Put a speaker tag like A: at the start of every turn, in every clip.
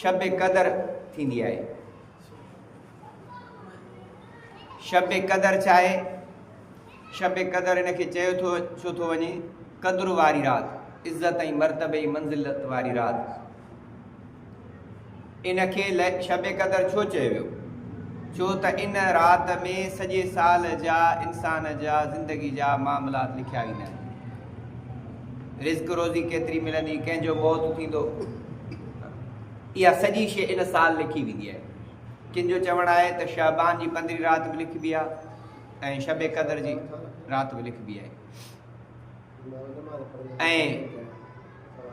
A: شب قدر ٿيندي آهي. شب قدر ڇا آهي؟ شب قدر ان کي چيو ٿو ڇو ٿو وڃي؟ قدر واري رات، عزت ۽ مرتبي ۽ منزلت واري رات. ان کي شب قدر ڇو چيو ويو؟ ڇو ته ان رات ۾ سڄي سال جا انسان جا زندگي جا معاملات لکيا ويندا آهن. رزق روزي ڪيتري ملندي ڪنهن جو موت ٿيندو اها سڄي شيء ان سال لکي ويندي آهي ڪن جو چوڻ آهي ته شعبان جي پندرهين رات به لکبي آهي ۽ شب قدر جي رات به لکبي آهي ۽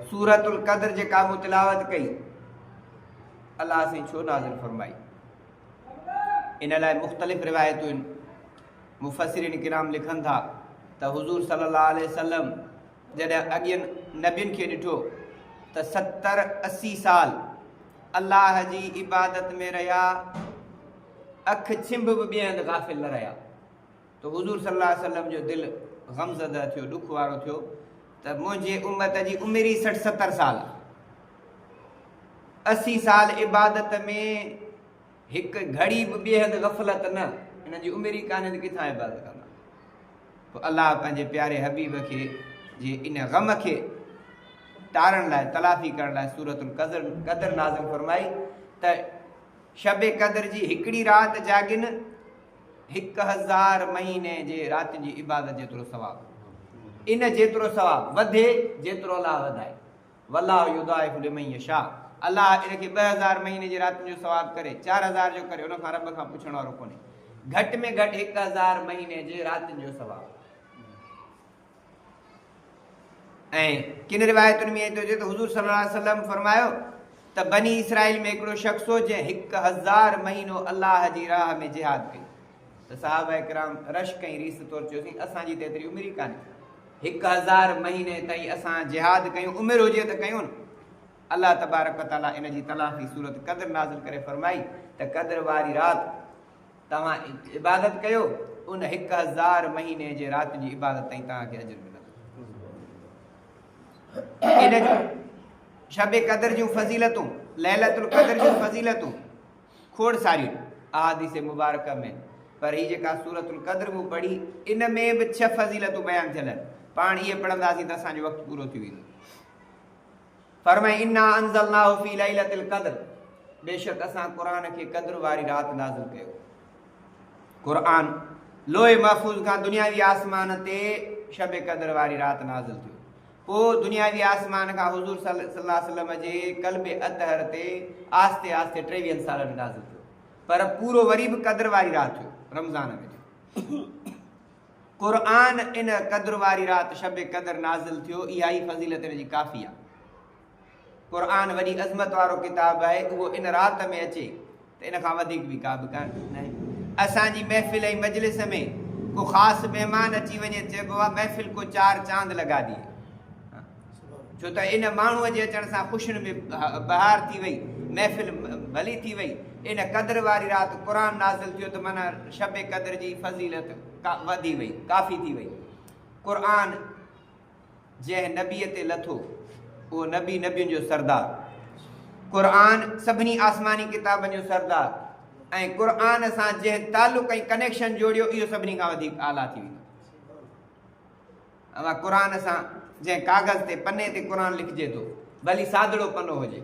A: سورت القدر جيڪا مون تلاوت ڪئي الله سائين ڇو نازل فرمائي ان لاء مختلف روايتون مفسرين ڪرام لکن ٿا ته حضور صلي الله عليه وسلم جڏهن اڳين نبين کي ڏٺو ته ستر اسي سال الله جي عبادت ۾ رهيا اک ڇنڀ به ٻئي هنڌ غافل نه رهيا ته حضور صلي الله عليه وسلم جو دل غمزده ٿيو ڏک وارو ٿيو ته منهنجي امت جي عمر ئي سٺ ستر سال اسي سال عبادت ۾ هڪ گهڙي به ٻئي هنڌ غفلت نه، انهن جي عمر ئي ڪانهي ته ڪٿان عبادت ڪندا. پوء الله پنهنجي پياري حبيب کي جي ان غم کي ٽارڻ لاء تلافي ڪرڻ لاء سورة القدر قدر نازل فرمائي ته شب قدر جي هڪڙي رات جاڳين هڪ هزار مهيني جي راتين جي عبادت جيترو ثواب ان جيترو ثواب وڌي جيترو الله وڌائي والله يضاعف لمن يشاء الله ان کي ٻه هزار مهيني جي راتين جو ثواب ڪري، چار هزار جو ڪري، ان کان رب کان پڇڻ وارو ڪونهي. گهٽ ۾ گهٽ هڪ هزار مهيني جي راتين جو ثواب. ۽ ڪن روايتن ۾ ٿو اچي ته حضور صلي الله عليه وسلم فرمايو ته بني اسرائيل ۾ هڪڙو شخص هو جنهن هڪ هزار مهينو الله جي راهه ۾ جهاد ڪئي. ته صحابه ڪرام رشڪ ۽ ريس طور چيو سين اسان جي ته ايتري عمر ئي ڪانهي هڪ هزار مهيني تائين اسان جهاد ڪيون عمر هجي ته ڪيون الله تبارڪ وتعالي ان جي تلافي سورت قدر نازل ڪري فرمائي ته قدر واري رات توهان عبادت ڪيو ان هڪ هزار مهيني جي رات جي عبادت تائين توهان کي اجر ملندو ان جو شب قدر جون فضيلتون ليلت القدر جون فضيلتون کوڙ ساريون احاديث مبارڪه ۾، پر هي جيڪا سورة القدر مون پڙهي، ان ۾ به ڇهه فضيلتون بيان ٿيل آهن، پاڻ اهي پڙهنداسين ته اسان جو وقت پورو ٿي ويندو. فرمائي، انا انزلناه في ليلة القدر، بيشڪ اسان قرآن کي قدر واري رات نازل ڪيو. قرآن لوح محفوظ کان دنياوي آسمان تي شب قدر واري رات نازل ٿيو. پوء دنياوي آسمان کان حضور صلي الله عليه وسلم جي قلب اطهر تي آهستي آهستي ٽيويهن سالن ۾ نازل ٿيو پر پورو وري به قدر واري رات ٿيو رمضان ۾ ٿيو قرآن ان قدر واري رات شب قدر نازل ٿيو اها ئي فضيلت ان جي ڪافي آهي قرآن وڏي عظمت وارو ڪتاب آهي، اهو ان رات ۾ اچي ته ان کان وڌيڪ به ڪا به ڪارڪت ناهي. اسان جي محفل ۽ مجلس ۾ ڪو خاص مهمان اچي وڃي چئبو آهي محفل ڪو چار چاند لڳا ڏي. ڇو ته ان ماڻهوء جي اچڻ سان خوشين ۾ بهار ٿي وئي، محفل ڀلي ٿي وئي. ان قدر واري رات قرآن نازل ٿيو ته معنيٰ شب قدر جي فضيلت وڌي وئي، ڪافي ٿي وئي. قرآن. جنهن نبيء تي لٿو، اهو نبي نبين جو سردار، قرآن سڀني آسماني ڪتابن جو سردار ۽ قرآن سان جنهن تعلق ۽ ڪنيڪشن جوڙيو، اهو سڀني کان وڌيڪ اعليٰ ٿي ويندو. اوهان قرآن سان جنهن ڪاغذ تي پني تي قرآن لکجي ٿو، ڀلي سادڙو پنو هجي،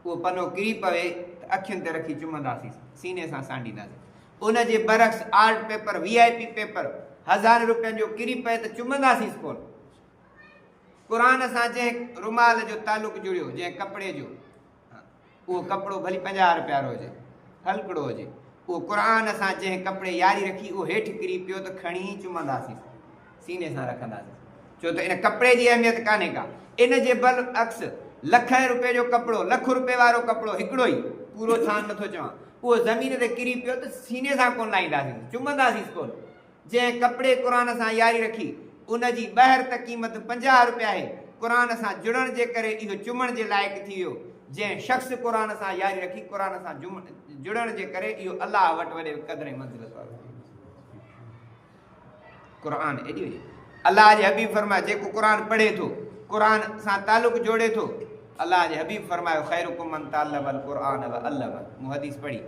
A: اهو پنو ڪري پوي ته اکين تي رکي چمنداسين، سيني سان سانڍينداسين، ان جي برعڪس art paper, V I P paper, هزارين روپين جو ڪري پئي ته چمنداسينس ڪونه. قرآن سان جنهن رومال جو تعلق جڙيو، جنهن ڪپڙي جو، اهو ڪپڙو ڀلي پنجاهه روپيا رو هجي، ڦلڪڙو هجي، اهو قرآن سان جنهن ڪپڙي ياري رکي، اهو هيٺ ڪري پيو ته کڻي چمنداسينس. سيني سان رکنداسين ڇو ته ان ڪپڙي جي اهميت ڪانهي ڪا ان جي بل عڪس لکين روپين جو ڪپڙو لک روپين وارو ڪپڙو هڪڙو ئي پورو ڇان نٿو چوان اهو زمين تي ڪري پيو ته سيني سان ڪونه لاهينداسينس چمنداسينس ڪونه جنهن ڪپڙي قرآن سان ياري رکي ان جي ٻهر ته قيمت پنجاهه روپيا آهي قرآن سان جڙڻ جي ڪري اهو چمڻ جي لائق ٿي ويو جنهن شخص قرآن سان ياري رکي قرآن سان جڙڻ جي ڪري اهو الله وٽ وڏي قدر ۽ منزلت وارو ٿي ويو قرآن ايڏي وڏي الله جي حبيب فرمايو جيڪو قرآن پڙهي ٿو قرآن سان تعلق جوڙي ٿو الله جي حبيب فرمايو خيرڪم من تعلم القرآن وعلم مون حديث پڙهي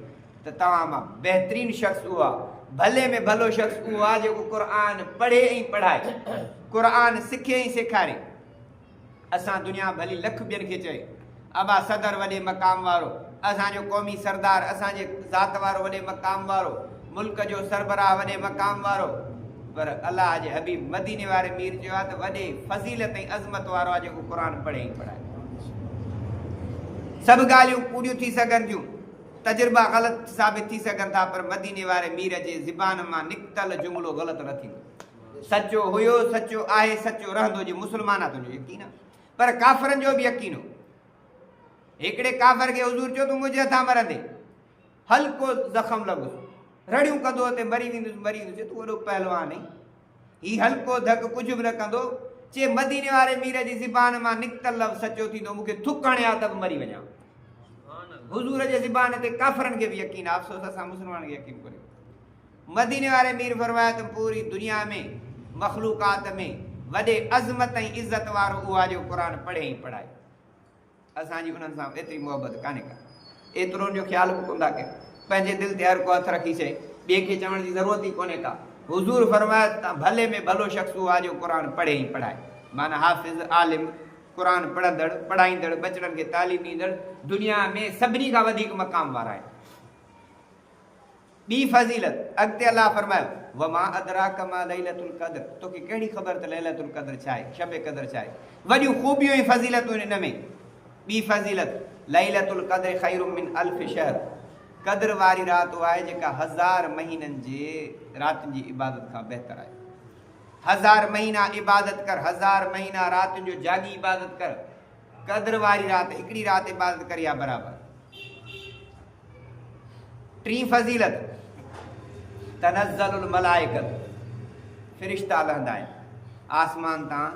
A: ته توهان مان بهترين شخص اهو آهي ڀلي ۾ ڀلو شخص اهو آهي جيڪو قرآن پڙهي ۽ پڙهائي قرآن سکي ۽ سيکاري اسان دنيا ڀلي لک ٻين کي چئي. ابا صدر وڏي مقام وارو، اسان جو قومي سردار، اسان جي ذات وارو وڏي مقام وارو، ملڪ جو سربراهه وڏي مقام وارو. پر الله جي حبيب مديني واري مير چيو آهي ته وڏي فضيلت ۽ عظمت وارو آهي جيڪو قرآن پڙهي ۽ پڙهائي. سڀ ڳالهيون ڪوڙيون ٿي سگهن ٿيون، تجربا غلط ثابت ٿي سگهن ٿا پر مديني واري مير جي زبان مان نڪتل جملو غلط نه ٿيندو. سچو هيو، سچو آهي، سچو رهندو جي مسلمان آ تنهنجو يقين آ پر ڪافرن جو به يقين هو. هڪڙي ڪافر کي حضور چيو تون منهنجي هٿان مرندي. هلڪو زخم لڳس. رڙيون ڪندو اتي مري ويندس مري ويندس چي تون وڏو پهلوان آهين. هي هلڪو ڌڪ ڪجهه به نه ڪندو. چي مديني واري مير جي زبان مان نڪتل لفظ سچو ٿيندو مون کي ٿڪ هڻي آ ته به مري وڃان. حضور جي زبان تي ڪافرن کي به يقين آ افسوس اسان مسلمانن کي يقين ڪونهي. مديني واري مير فرمايو ته پوري دنيا ۾ مخلوقات ۾ وڏي عظمت ۽ عزت وارو اهو آهي جيڪو قرآن پڙهي ۽ پڙهائي. اسان جي انهن سان ايتري محبت ڪانهي ڪا. ايترو ان جو خيال به ڪونه ٿا ڪن. پنهنجي دل تي هر ڪو هٿ رکي شيء ٻئي کي چوڻ جي ضرورت ئي ڪونهي ڪا. حضور فرمايو ته تان ڀلي ۾ ڀلو شخص اهو آهي جيڪو قرآن پڙهي ۽ پڙهائي. معنيٰ حافظ، عالم، قرآن پڙهندڙ، پڙهائيندڙ، ٻچڙن کي تعليم ڏيندڙ دنيا ۾ سڀني کان وڌيڪ مقام وارا آهن. ٻي فضيلت، اڳتي الله فرمايو، وما ادراک ما ليلة القدر، توکي ڪهڙي خبر ته ليلة القدر ڇا آهي، شب قدر ڇا آهي، وڏيون خوبيون ۽ فضيلتون آهن ان ۾. ٻي فضيلت، ليلة القدر خير من الف شهر، قدر واري رات اها آهي جيڪا هزار مهينن جي راتين جي عبادت کان بهتر آهي. هزار مهينا عبادت ڪر، هزار مهينا راتين جو جاڳي عبادت ڪر، قدر واري رات هڪڙي رات عبادت ڪري ها برابر. ٽين فضيلت، تنزل الملائڪة، فرشتا لهندا آهن آسمان تان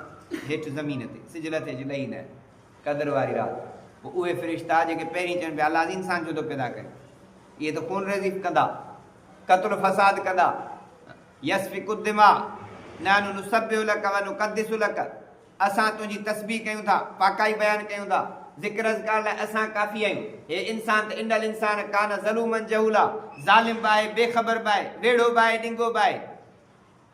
A: هيٺ زمين تي، سج لٿي جو ڏهيندا آهن قدر واري رات، پوء اهي فرشتا جيڪي پهرين چون پيا الله انسان ڇو ٿو پيدا ڪري، اهي ته خون ريزي ڪندا، قتل فساد ڪندا، يسفڪ الدماء، نحن نسبح لك ونقدس لك، اسان تنهنجي تسبيح ڪيون ٿا، پاڪائي بيان ڪيون ٿا، ذڪر اذڪار لاء اسان ڪافي آهيون. هي انسان ته ان الانسان ڪان ظلوما جهولا، ظالم به آهي، بي خبر به آهي، ويڙهو به آهي، ڏنگو به آهي.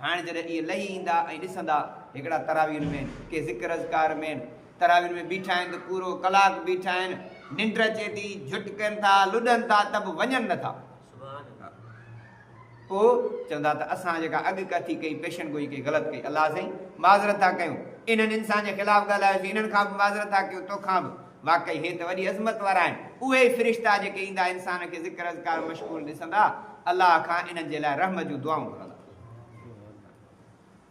A: هاڻ جڏهن اهي لهي ايندا ۽ ڏسندا، هڪڙا تراويحن ۾ آهن، ڪي ذڪر اذڪار ۾ آهن، تراويحن ۾ بيٺا آهن ته پورو ڪلاڪ بيٺا آهن، ننڊ اچي ٿي، جهٽ ڪن ٿا، لڏن ٿا ته به وڃن نه ٿا. پوء چوندا ته اسان جيڪا اڳ ڪٿي ڪئي، پيشن گوئي ڪئي، غلط ڪئي، الله سائين معذرت ٿا ڪيون، انهن انسان جي خلاف ڳالهايوسين، انهن کان به معذرت ٿا ڪيون، توکان به. واقعي هي ته وڏي عظمت وارا آهن، اهي ئي فرشتا جيڪي ايندا انسان کي ذڪر اذڪار ۾ مشغول ڏسندا، الله کان انهن جي لاء رحم جون دعائون گهرندا.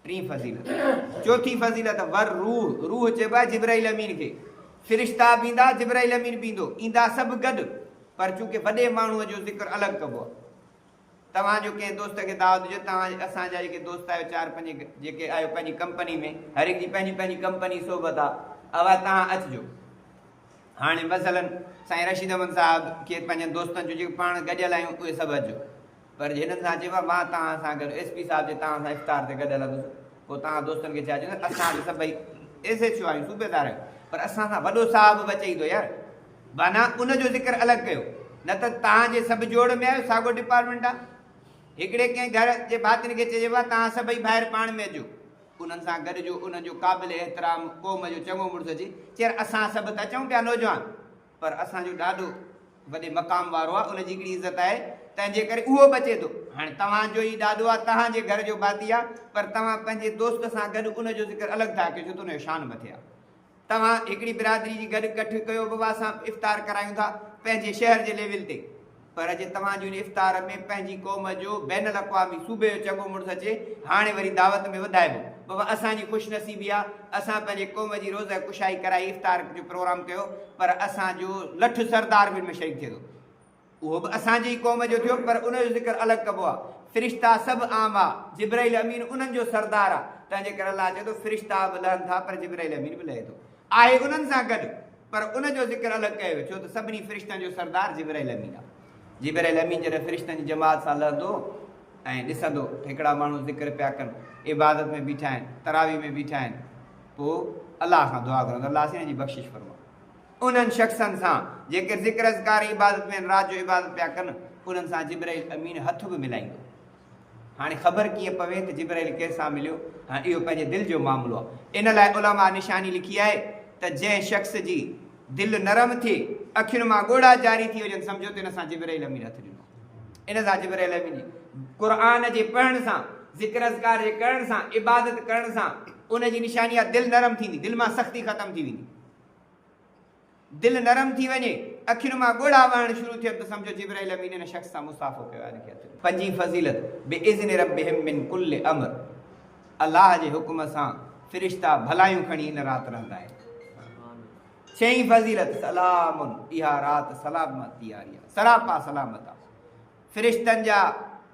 A: ٽين فضيلت، چوٿين فضيلت، ور روح، روح چئبو آهي جبرائيل امين کي، فرشتا به ايندا جبرائيل امين به ايندو، ايندا سڀ گڏ پر چونڪه وڏي ماڻهوء جو ذڪر الڳ ڪبو آهي. توهان جو ڪنهن دوست کي دعوت ڏجو توهان اسان جا جيڪي دوست آهيو چار پنج جيڪي آهيو پنهنجي ڪمپني ۾ هر هڪ جي پنهنجي پنهنجي ڪمپني صحبت آهي اها توهان اچجو هاڻي مثلا سائين رشيد احمد صاحب کي پنهنجن دوستن جو جيڪي پاڻ گڏيل آهيون اهي سڀ اچجو. پر هنن سان چيو مان توهان سان گڏ ايس پي صاحب جي توهان سان افطار تي گڏ هلندس پوء توهان دوستن کي ڇا چوندو اسان به سڀئي ايس ايڇ او آهيون صوبيدار آهيون پر اسان سان وڏو صاحب به اچي ٿو يار بانه ان جو ذڪر الڳ ڪيو نه ته توهان جي سڀ جوڙ ۾ آهيو ساڳو ڊپارٽمينٽ آهي هڪڙي ڪنهن گهر جي ڀاتين کي چئجي وا توهان سڀئي ڀائر پاڻ ۾ اچو انهن سان گڏ جو انهن جو قابل احترام قوم جو چڱو مڙس اچي چير اسان سڀ ته اچون پيا نوجوان پر اسان جو ڏاڏو وڏي مقام وارو آ ان جي هڪڙي عزت آهي تنهن جي ڪري اهو بچي ٿو هاڻي توهان جو ئي ڏاڏو آ تهان جي گهر جو ڀاتي آ پر توهان پنهنجي دوست سان گڏ ان جو ذڪر الڳ ٿا ڪيو ڇو ته ان جو شان مٿي آ توهان هڪڙي برادري جي گڏ ڪٺ ڪيو بابا اسان افطار ڪرايون ٿا پنهنجي شهر جي ليول تي. پر جي توهان جي ان افطار ۾ پنهنجي قوم جو بين الاقوامي صوبي جو چڱو مڙس اچي هاڻي وري دعوت ۾ وڌائبو بابا اسان جي خوش نصيبي آ اسان پنهنجي قوم جي روزه ڪشائي ڪرائي افطار جو پروگرام ڪيو پر اسان جو لٺ سردار به ان ۾ شريڪ ٿئي ٿو اهو به اسان جي ئي قوم جو ٿيو پر ان جو ذڪر الڳ ڪبو آ فرشتا سڀ عام آ جبرائيل امين انهن جو سردار آ تنهن جي ڪري الله چئي ٿو فرشتا به لهن ٿا پر جبرائيل امين به لهي ٿو آهي انهن سان گڏ پر ان جو ذڪر الڳ ڪيو ويو ڇو ته سڀني فرشتن جو سردار جبرئيل امين آهي جبرئيل امين جڏهن فرشتن جي جماعت سان لهندو ۽ ڏسندو ته هڪڙا ماڻهو ذڪر پيا ڪن عبادت ۾ بيٺا آهن تراويح ۾ بيٺا آهن پوء الله کان دعا گهرندو الله اسين جي بخشش فرما انهن شخصن سان جيڪي ذڪر اذڪار عبادت ۾ رات جو عبادت پيا ڪن انهن سان جبرئيل امين هٿ به ملائيندو هاڻي خبر ڪيئن پوي ته جبرائيل ڪنهن سان مليو؟ هاڻ اهو پنهنجي دل جو معاملو آهي. ان لاء علماء نشاني لکي آهي ته جنهن شخص جي دل نرم ٿئي، اکين مان ڳوڙها جاري ٿي وڃن، سمجهو ته ان سان جبرائيل امين هٿ ڏنو آهي. ان سان جبرائيل امين جي قرآن جي پڙهڻ سان، ذڪر اذڪار جي ڪرڻ سان، عبادت ڪرڻ سان ان جي نشاني آهي دل نرم ٿيندي، دل مان سختي ختم ٿي ويندي. دل نرم ٿي وڃي، اکين مان ڳوڙها وهڻ شروع ٿين ته سمجهو جبرائيل امين ان شخص سان مصافحو ڪيو آهي هن کي عطر. پنجين فضيلت، باذن ربهم من ڪل امر الله جي حڪم سان فرشتا ڀلايون کڻي ان رات رهندا آهن. ڇهين فضيلت، سلام اها رات سلامتي واري آهي سراپا سلامت آهي فرشتن جا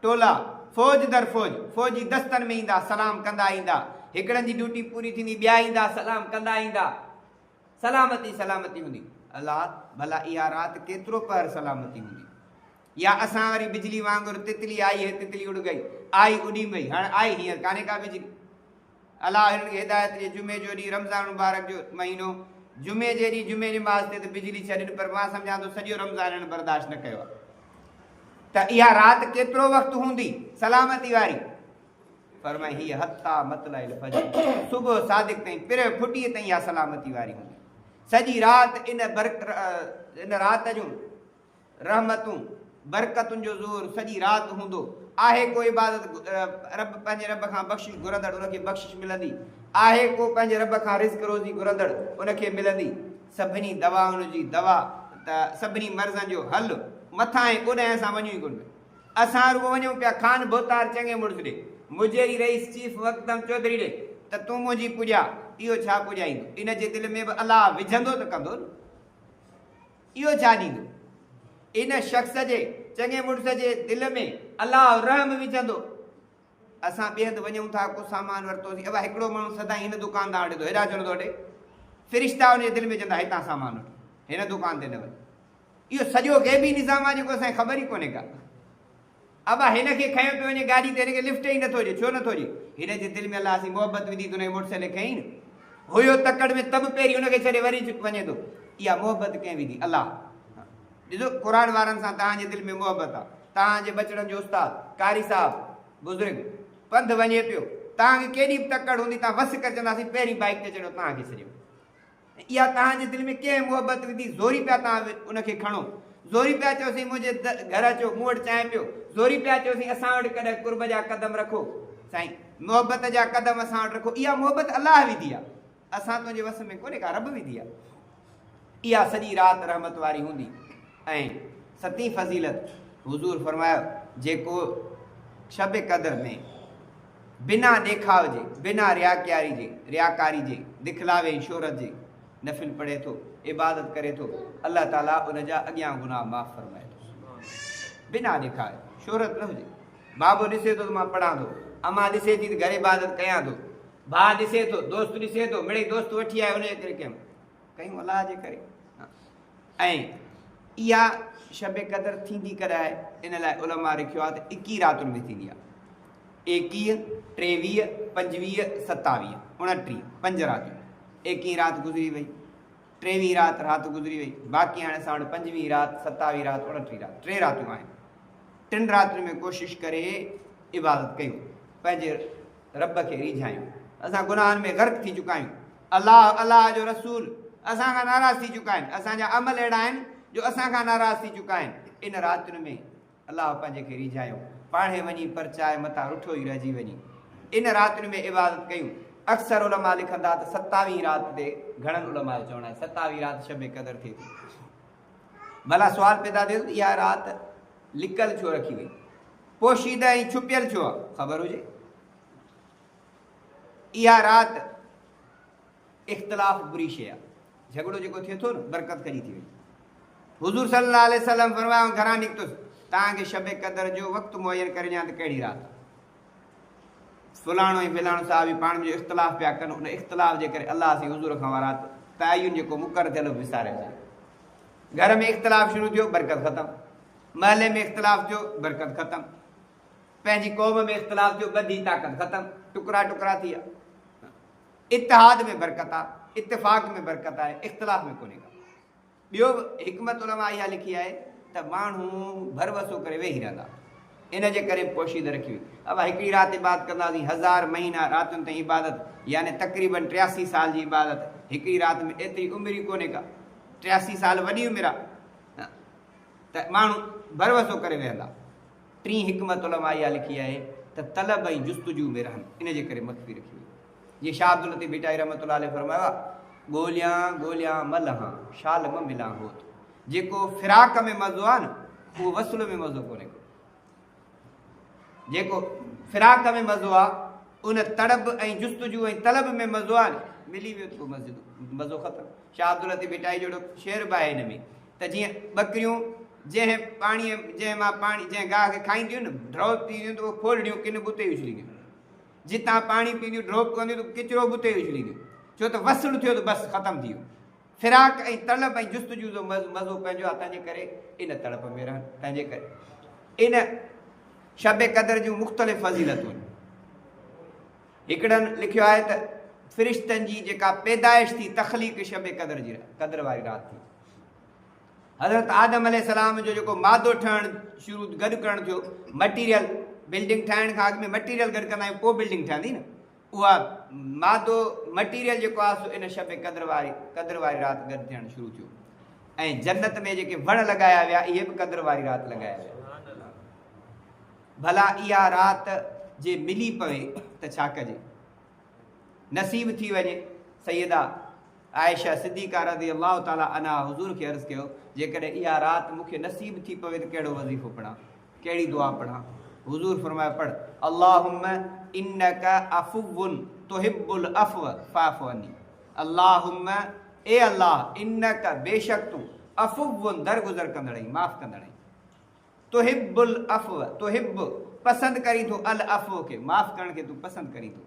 A: ٽولا فوج در فوج فوجي دستن ۾ ايندا سلام ڪندا ايندا هڪڙن جي ڊيوٽي پوري ٿيندي ٻيا ايندا سلام ڪندا ايندا. سلامت ئي سلامتي هوندي. الا! ڀلا اها رات ڪيترو پهر سلامتي هوندي. يا اسان وري بجلي وانگر تتلي آئي هي تتلي اڙ گئي، آئي اڏي مئي، هاڻ آئي هينئر ڪانهي ڪا بجلي. الا هنن کي هدايت ڏي جمعي جو ڏينهن رمضان مبارڪ جو مهينو جمعي جي ڏينهن جمعي نماز تي ته بجلي ڇڏين پر مان سمجهان ٿو سڄو رمضان هنن برداشت نه ڪيو آهي ته اها رات ڪيترو وقت هوندي سلامتي واري. فرمائي هي حتيٰ مطلع الفجر، صبح صادق تائين، پرهه ڦٽيء تائين اها سلامتي واري هوندي. سڄي رات ان برڪ ان رات جون رحمتون برڪتن جو زور سڄي رات هوندو. آهي ڪو عبادت رب پنهنجي رب کان بخشش گهرندڙ ان کي بخشش ملندي. آهي ڪو پنهنجي رب کان رزق روزي گهرندڙ ان کي ملندي. سڀني دوائن جي دوا ته سڀني مرضن جو حل مٿانهين اوڏانهين اسان وڃون ئي ڪونه پيا. اسان رڳو وڃون پيا خان ڀوتار چڱي مڙس ڏي، مجيري رئيس چيف وڪدم چوڌري ڏي ته تون منهنجي پوڄا، اهو ڇا پوڄائيندو؟ ان جي دل ۾ به الله وجهندو ته ڪندو نه، اهو ڇا ڏيندو؟ ان شخص جي، چڱي مڙس جي، دل ۾ الله رحم وجهندو. اسان ٻئي هنڌ وڃون ٿا، ڪو سامان ورتوسين، اوا هڪڙو ماڻهو سدائين هن دڪان تان هٽندو، هيڏانهن چڙهندو هٽي، فرشتا ان جي دل ۾ چوندا هتان سامان وٺ، هن دڪان تي نه وڃ، اهو سڄو غيبي نظام آ جيڪو اسان کي خبر ئي ڪونهي ڪا. ابا هن کي کنيو پيو وڃي گاڏي تي هن کي لفٽ ئي نٿو ڏي ڇو نٿو ڏي. هن جي دل ۾ الله سين محبت وڌي ته هن کي موٽر سائيڪل کنئين. هيو تڪڙ ۾ ته به پهرين هن کي ڇڏي وري وڃي ٿو. اها محبت ڪنهن وڌي؟ الله. ڏسو قرآن وارن سان توهان جي دل ۾ محبت آ. توهان جي ٻچڙن جو استاد، قاري صاحب، بزرگ، پنڌ وڃي پيو. توهان کي ڪيڏي به تڪڙ هوندي توهان وس ڪري چونداسين پهرين بائيڪ تي چڙهيو توهان کي ڇڏيم. اها توهان جي دل ۾ ڪنهن محبت وڌي زوري پيا توهان ان کي کڻو زوري پيا چئو سائين منهنجي گهر اچو مون وٽ چانهه پيو زوري پيا چئو سائين اسان وٽ ڪڏهن قرب جا قدم رکو سائين محبت جا قدم اسان وٽ رکو اها محبت الله وڌي آ اسان تنهنجي وس ۾ ڪونهي ڪا رب وڌي آ اها سڄي رات رحمت واري هوندي ۽ ستين فضيلت حضور فرمايو جيڪو شب قدر ۾ بنا ڏيکاء جي، بنا رياڪياري جي، رياڪاري جي، دکلاوي ۽ شهرت جي نفل پڙهي ٿو، عبادت ڪري ٿو، الله تعاليٰ ان جا اڳيان گناهه معاف فرمائي ٿو. بنا ڏيکاء جي، شهرت نه هجي. بابو ڏسي ٿو ته مان پڙهان ٿو، امان ڏسي ٿي ته گهر عبادت ڪيان ٿو، ڀاء ڏسي ٿو، دوست ڏسي ٿو، مڙئي دوست وٺي آيو ان جي ڪري ڪيم. ڪيون الله جي ڪري ۽ اها شب قدر ٿيندي ڪڏهن آهي ان لاء علماء رکيو آهي ته اڪيهه راتن ۾ ٿيندي آهي ايڪيهه ٽيويهه پنجويهه ستاويهه اڻٽيهه پنج راتون ايڪيهه رات گذري وئي ٽيويهه رات رات گذري وئي باقي هاڻي اسان وٽ پنجويهه رات ستاويهه رات اڻٽيهه رات ٽي راتون آهن ٽن راتن ۾ ڪوشش ڪري عبادت ڪيون پنهنجي رب کي ريجھايون اسان گناهن ۾ غرق ٿي چڪا آهيون الله الله جو رسول اسان کان ناراض ٿي چڪا آهن، اسان جا عمل اهڙا آهن جو اسان کان ناراض ٿي چڪا آهن. ان راتين ۾ الله پنهنجي کي ريجهايو، پاڻهي وڃي پرچائي متان رٺو ئي رهجي وڃي. ان راتين ۾ عبادت ڪيون. اڪثر علماء لکن ٿا ته ستاويهين رات تي گهڻن علماء جو چوڻ آهي ستاويهين رات شب قدر ٿئي ٿي. ڀلا سوال پيدا ٿئي ٿو ته اها رات لڪل ڇو رکي وئي؟ پوشيده ۽ ڇپيل ڇو آهي؟ خبر هجي. اها رات اختلاف بري شيء آ. جهڳڙو جيڪو ٿئي ٿو نه برڪت ڪڍي ٿي وڃي. حضور صلي الله عليه وسلم فرمايائون گهران نڪتس توهان کي شب قدر جو وقت معين ڪري ڏيان ته ڪهڙي رات آ. فلاڻو ۽ فلاڻو صحابي پاڻ ۾ جو اختلاف پيا ڪن ان اختلاف جي ڪري الله سائين حضور کان اها رات تعين جيڪو مقرر ٿيل هو وساري ڇڏيو. گهر ۾ اختلاف شروع ٿيو برڪت ختم. محلي ۾ اختلاف ٿيو برڪت ختم. پنهنجي قوم ۾ اختلاف ٿيو، ڳنڍي طاقت ختم، ٽڪرا ٽڪرا ٿي ويا. اتحاد ۾ برڪت آ، اتفاق ۾ برڪت آهي، اختلاف ۾ ڪونهي ڪا. ٻيو به حڪمت علماء اها لکي آهي ته ماڻهو ڀروسو ڪري ويهي رهندا، ان جي ڪري پوشيده رکي وئي. اوهان هڪڙي رات عبادت ڪنداسين، هزار مهينا راتين تائين عبادت، يعني تقريبن ٽياسي سال جي عبادت هڪڙي رات ۾ ايتري عمر ئي ڪونهي ڪا. ٽياسي سال وڏي عمر آ ته ماڻهو ڀروسو ڪري ويهندا. ٽين حڪمت علماء اها لکي آهي ته طلب ۽ جستجو ۾ رهن، ان جي ڪري مخفي رکي ويو. جيئن شاهه عبداللطيف ڀٽائي رحمة الله عليه فرمايو آهي، ڳوليان ڳوليان مه لهان، شال مه ملان هوت. جيڪو فراق ۾ مزو آهي نه، اهو وصل ۾ مزو ڪونهي ڪو. جيڪو فراق ۾ مزو آهي، ان تڙپ ۽ جستجو ۽ طلب ۾ مزو آهي نه، ملي ويو ته پوء مزو ختم. شاهه عبداللطيف ڀٽائي جهڙو شعر به آهي هن ۾. ته جيئن ٻڪريون جنهن پاڻيء جنهن مان پاڻي جنهن گاهه کي کائينديون نه ڊروپ پيئنديون ته اهي ڦولڙيون ڪن بتي اڇلينديون جتان پاڻي پيئنديون ڊروپ ڪنديون ته ڪچرو بتي اڇلينديون ڇو ته وصل ٿيو ته بس ختم ٿي ويو فراق ۽ طلب ۽ جستجو جو مزو پنهنجو آ تنهنجي ڪري ان تڙپ ۾ رهن تنهنجي ڪري ان شب قدر جون مختلف فضيلتون هڪڙن لکيو آهي ته فرشتن جي جيڪا پيدائش ٿي تخليق شب قدر جي قدر واري رات ٿي حضرت آدم عليه السلام جو جيڪو مادو ٺهڻ شروع گڏ ڪرڻ ٿيو مٽيريل بلڊنگ ٺاهڻ کان اڳ ۾ مٽيريل گڏ ڪندا آهيون پوء بلڊنگ ٺهندي نه اها مادو مٽيريل جيڪو آهي سو ان شب قدر واري قدر واري رات گڏ ٿيڻ شروع ٿيو ۽ جنت ۾ جيڪي وڻ لڳايا ويا اهي به قدر واري رات لڳايا ويا ڀلا اها رات جي ملي پوي ته ڇا ڪجي نصيب ٿي وڃي سيدا عائشه صديقه رضي الله تعالٰي عنها حضور کي عرض ڪيو، جيڪڏهن اها رات مون کي نصيب ٿي پوي ته ڪهڙو وظيفو پڙهان؟ ڪهڙي دعا پڙهان؟ حضور فرمايو، پڙهه، اللهم انڪ عفو تحب العفو فاعف عني، اللهم، اي الله، انڪ، بيشڪ تون، عفو، درگذر ڪندڙ آهين، معاف ڪندڙ آهين. تحب العفو، تحب، پسند ڪرين ٿو، العفو کي، معاف ڪرڻ کي، تون پسند ڪرين ٿو.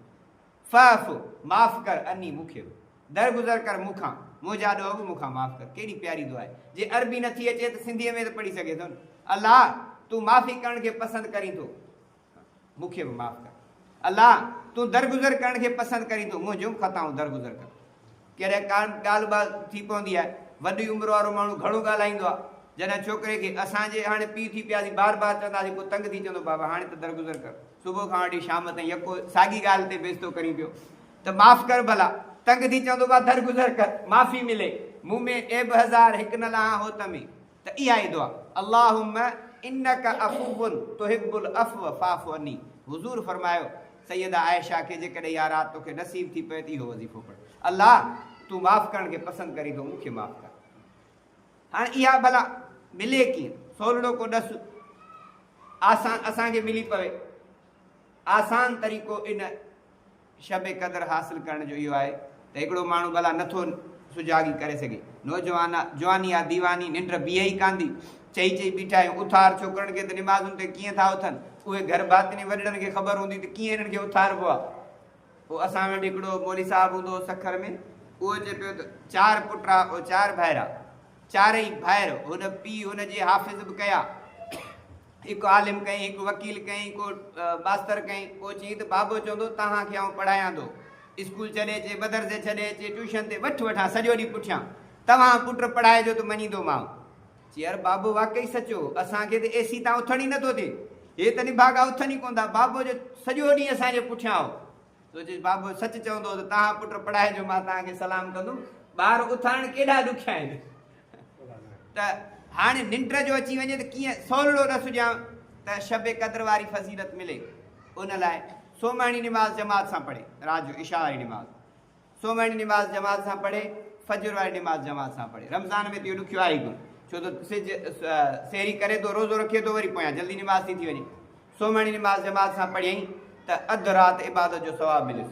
A: فاعف معاف ڪر عني مون کي به درگذر ڪر مون کان منهنجا ڏوهه به مون کان معاف ڪر ڪيڏي پياري دعا آهي جي عربي نٿي اچي ته سنڌي ۾ ته پڙهي سگهي ٿو نه الله تون معافي ڪرڻ کي پسند ڪرين ٿو مون کي به معاف ڪر الله تون درگذر ڪرڻ کي پسند ڪرين ٿو منهنجون خطائون درگذر ڪر ڪڏهن ڪا ڳالهه ٻالهه ٿي پوندي آهي. وڏي عمر وارو ماڻهو گهڻو ڳالهائيندو آهي. جڏهن ڇوڪري کي اسان جي هاڻي پيء ٿي پياسين بار بار چونداسين پوء تنگ ٿي چوندو بابا هاڻي ته درگذر ڪر. صبح کان وٺي شام تائين يڪو ساڳي ڳالهه تي بيستو ڪرين پيو ته معاف ڪر ڀلا. تنگ ٿي چوندو بابا درگذر ڪر. معافي ملي مون ۾ عيب هزار هڪ نه لهان هوت ۾. ته اها ئي دعا، اللهم انک عفو تحب العفو فاعف عني، حضور فرمايو، سيده عائشه کي جيڪڏهن اها رات توکي نصيب ٿي پئي ته اهو وظيفو پڙهه، الله! تون معاف ڪرڻ کي پسند ڪرين ٿو، مون کي معاف ڪر. هاڻ اها بلا ملي ڪيئن؟ سولڙو ڪو ڏس، آسان اسان کي ملي پوي. آسان طريقو ان. شب قدر حاصل ڪرڻ جو اهو آهي ته هڪڙو ماڻهو ڀلا نٿو سجاڳي ڪري سگهي. نوجوان جواني آ ديواني ننڊ بيهي ئي ڪانڌي. چئي چئي بيٺا آهيون. اٿار ڇوڪرن کي ته نمازن تي ڪيئن ٿا اٿن. اهي گهر باطني وڏڙن کي خبر هوندي ته ڪيئن هنن کي اٿاربو آ. پوء اسان وٽ هڪڙو مولوي صاحب هوندو هو سکر ۾. اهو چئي پيو ته چار پٽ آ او چار ڀائرا. چارئي ڀائر، هن پيء هن جي حافظ به ڪيا. هڪ عالم ڪئين، هڪ وڪيل ڪئين، ڪو ماستر ڪئين. پوء چيائين ته بابو چوندو توهان کي آئون پڙهاياندو. اسڪول ڇڏي اچي، مدرسي ڇڏي اچي، ٽيوشن تي وٺ وٺان سڄو ڏينهن پٺيان. توهان پٽ پڙهائجو ته مڃيندومانء. چيائر بابو واقعي سچو، اسان کي ته اي سي تان اٿڻ ئي نٿو ٿئي. هي ته نڀاڳا اٿن ئي ڪونه ٿا. بابو جو سڄو ڏينهن اسان جي پٺيان هو. سو چيس، بابو سچ چوندؤ ته تهان پٽ پڙهائجو مان تهان کي سلام ڪندم. ٻار اٿارڻ ڪيڏا ڏکيا آهن ته هاڻي ننڊ جو اچي وڃي ته ڪيئن سولڙو نه سجهان ته شب قدر واري فضيلت ملي. ان لاء سومهڻي نماز جماعت سان پڙهي، رات جو عشاء واري نماز سومهڻي نماز جماعت سان پڙهي، فجر واري نماز جماعت سان پڙهي. رمضان ۾ ته اهو ڏکيو آهي ڪونه، ڇو ته سج سحري ڪري ٿو، روزو رکي ٿو وري پويان جلدي نماز ٿي ٿي وڃي. سومهڻي نماز جماعت سان پڙهيئي ته اڌ رات عبادت جو ثواب مليس.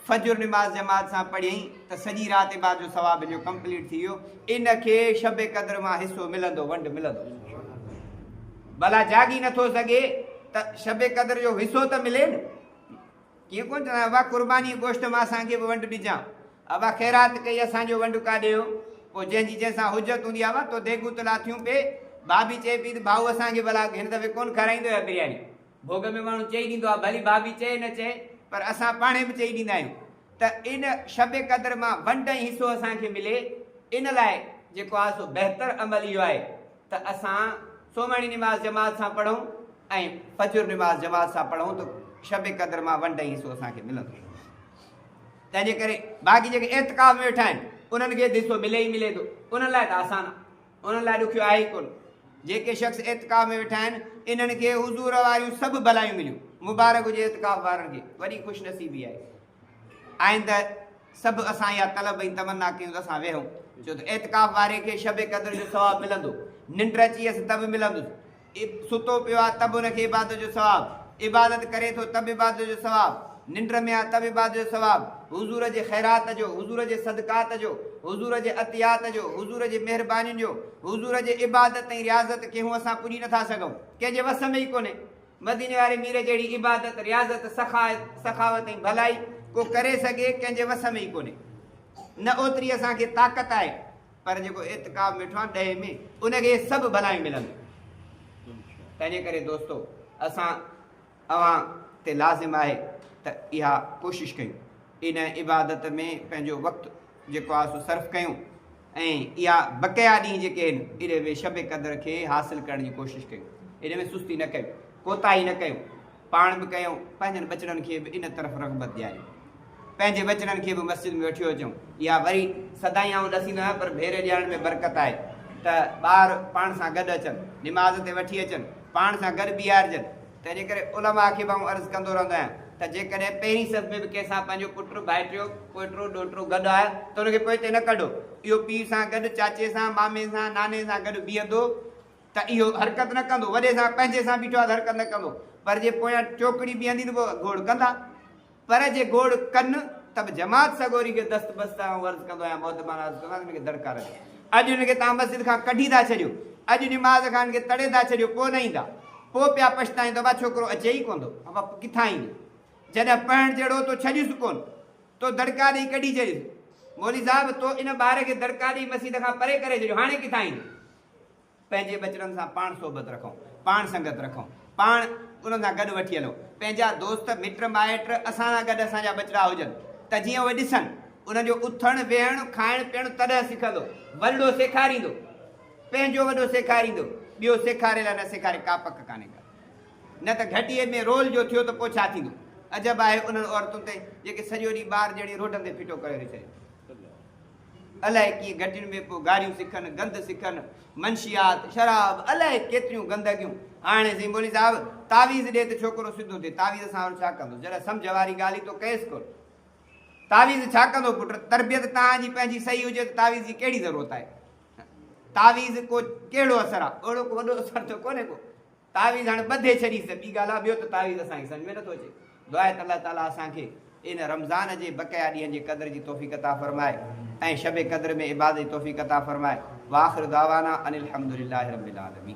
A: فجر نماز جماعت سان پڙهيئي ته سڄي رات عبادت جو ثواب مليو، ڪمپليٽ ٿي ويو. ان کي شب قدر مان حصو ملندو، ونڊ ملندو. ڀلا جاڳي نٿو سگهي ته شب قدر جو حصو ته ملي نه. ڪيئن ڪونه ڏنائون ابا قرباني گوشت مان اسان کي به ونڊ ڏجان ابا خيرات ڪئي اسان جو ونڊ ڪا ڏيو پوء جنهن جي جنهن سان حجت هوندي ابا تو ديڳون ته لاٿيون پي ڀاڀي چئي پي ته ڀائو اسان کي ڀلا هن دفعي ڪونه کارائيندو يا برياني ڀوڳ ۾ ماڻهو چئي ڏيندو آهي ڀلي ڀاڀي چئي نه چئي پر اسان پاڻهي به چئي ڏيندا آهيون ته ان شب قدر مان ونڊ ۽ حصو اسان کي ملي ان لاء جيڪو آهي سو بهتر عمل اهو آهي ته اسان سومهڻي نماز جماعت سان پڙهون ۽ فجر نماز جماعت سان پڙهون ته شب قدر مان ون ڊهي حصو اسان کي ملندو تنهن جي ڪري باقي جيڪي اعتقاف ۾ ويٺا آهن انهن کي حصو ملي ئي ملي ٿو انهن لاء ته آسان آهي انهن لاء ڏکيو آهي ئي ڪونه جيڪي شخص اعتقاف ۾ ويٺا آهن انهن کي حضور واريون سڀ بلايون مليون مبارڪ هجي اعتقاف وارن کي وڏي خوش نصيبي آهي آئنده سڀ اسان اها طلب ۽ تمنا ڪيون ته اسان ويهون، ڇو ته اعتڪاف واري کي شب قدر جو ثواب ملندو، ننڊ اچي ويس ته به ملندس، ستو پيو آهي ته به ان کي عبادت جو ثواب، عبادت ڪري ٿو ته به عبادت جو ثواب، ننڊ ۾ آهي ته به عبادت جو ثواب، حضور جي خيرات جو، حضور جي صدقات جو، حضور جي عطيات جو، حضور جي مهربانين جو، حضور جي عبادت ۽ رياضت کي هون اسان پڄي نٿا سگهون، ڪنهن جي وس ۾ ئي ڪونهي. مديني واري مير جهڙي عبادت، رياضت، سخا، سخاوت ۽ ڀلائي ڪو ڪري سگهي، ڪنهن جي وس ۾ ئي ڪونهي. نه اوتري اسان کي طاقت آهي، پر جيڪو اعتڪاف ۾ ويٺو آهي ڏهي ۾، ان کي اهي سڀ ڀلايون ملنديون. تنهنجي ڪري دوستو! اسان اوهان تي لازم آهي ته اها ڪوشش ڪيون. ان عبادت ۾ پنهنجو وقت جيڪو آهي سو صرف ڪيون ۽ اها بقيا ڏينهن جيڪي آهن انهن ۾ شب قدر کي حاصل ڪرڻ جي ڪوشش ڪيون ان ۾ سستي نه ڪيون ڪوتاهي نه ڪيون پاڻ به ڪيون پنهنجن ٻچڙن کي به ان طرف رغبت ڏياريون پنهنجي ٻچڙن کي به مسجد ۾ وٺيو اچون يا وري سدائين آئون ڏسيندو آهيان پر ڀيري ڏيارڻ ۾ برڪت آهي ته ٻار پاڻ سان گڏ اچن نماز تي وٺي اچن پاڻ سان گڏ بيهارجن تنهنجي ڪري علماء کي به آئون عرض ڪندو رهندو آهيان ته جيڪڏهن پهرين صف ۾ به ڪنهن سان پنهنجو پٽ، ڀائٽيو، پوئٽو، ڏوهٽو گڏ آهي ته ان کي پوئتي نه ڪڍو. اهو پيء سان گڏ، چاچي سان، مامي سان، ناني سان گڏ بيهندو ته اهو حرڪت نه ڪندو، وڏي سان، پنهنجي سان بيٺو آهي ته حرڪت نه ڪندو، پر جي پويان چوڪڙي بيهندي ته پوء گوڙ ڪندا. پر جي گوڙ ڪن ته به جماعت سڳوري کي دست بست سان آئون عرض ڪندو آهيان محترمان عرض ڪندو آهيان ته هن کي دڙڪا رکيو اڄ هن کي توهان مسجد کان ڪڍي ٿا ڇڏيو اڄ نماز کان هن کي تڙي ٿا ڇڏيو پوء نه ايندا پوء پيا پڇتائين ته ابا ڇوڪرو اچي ئي ڪونه ٿو ابا ڪٿان ايندو جڏهن پڙهڻ جهڙو تو ڇڏيس ڪونه تو دڙڪا ڏئي ڪڍي ڇڏيس مولوي صاحب تو ان ٻار کي دڙڪا ڏئي مسجد کان پري ڪري ڇڏيو هاڻي ڪٿان ايندو پنهنجي ٻچڙن سان پاڻ صحبت رکو، پاڻ سنگت رکو، پاڻ انهن سان گڏ وٺي هلو، پنهنجا دوست، مٽ مائٽ اسان سان گڏ اسان جا ٻچڙا هجن ته جيئن اهي ڏسن، انهن جو اٿڻ، ويهڻ، کائڻ پيئڻ تڏهن سکندو، ورڙو سيکاريندو، پنهنجو وڏو سيکاريندو، ٻيو سيکاري لا نه سيکاري ڪا پڪ ڪانهي ڪا نه ته گهٽيء ۾ رول جو ٿيو ته پوء ڇا ٿيندو، عجب آهي انهن عورتن تي جيڪي سڄو ڏينهن ٻار جهڙي روڊن تي ڦٽو ڪريو رهي ڇڏين. الائي ڪيئن گهٽين ۾ ڪو گاريون سکن، گند سکن، منشيات، شراب، الائي ڪيتريون گندگيون. هاڻي سائين مولوي صاحب تعويذ ڏي ته ڇوڪرو سڌو ٿئي، تعويذ سان اهو ڇا ڪندو؟ جڏهن سمجهه واري ڳالهه ئي تو ڪيس ڪونه. تعويذ ڇا ڪندو پٽ؟ تربيت تان جي پنهنجي صحيح هجي ته تعويذ جي ڪهڙي ضرورت آهي؟ تعويذ ڪو ڪهڙو اثر آ؟ اهڙو ڪو وڏو اثر ته ڪونهي ڪو. تعويذ هاڻي ٻڌي ڇڏيس ته ٻي ڳالهه آ ٻيو ته تعويذ اسان کي سمجهه ۾ نٿو اچي دعا ته الله تعالي اسان کي ان رمضان جي بقيا ڏينهن جي قدر جي توفيق عطا فرمائي ۽ شب قدر ۾ عبادت جي توفيق عطا فرمائي واخر دعوانا ان الحمدلله رب العالمين.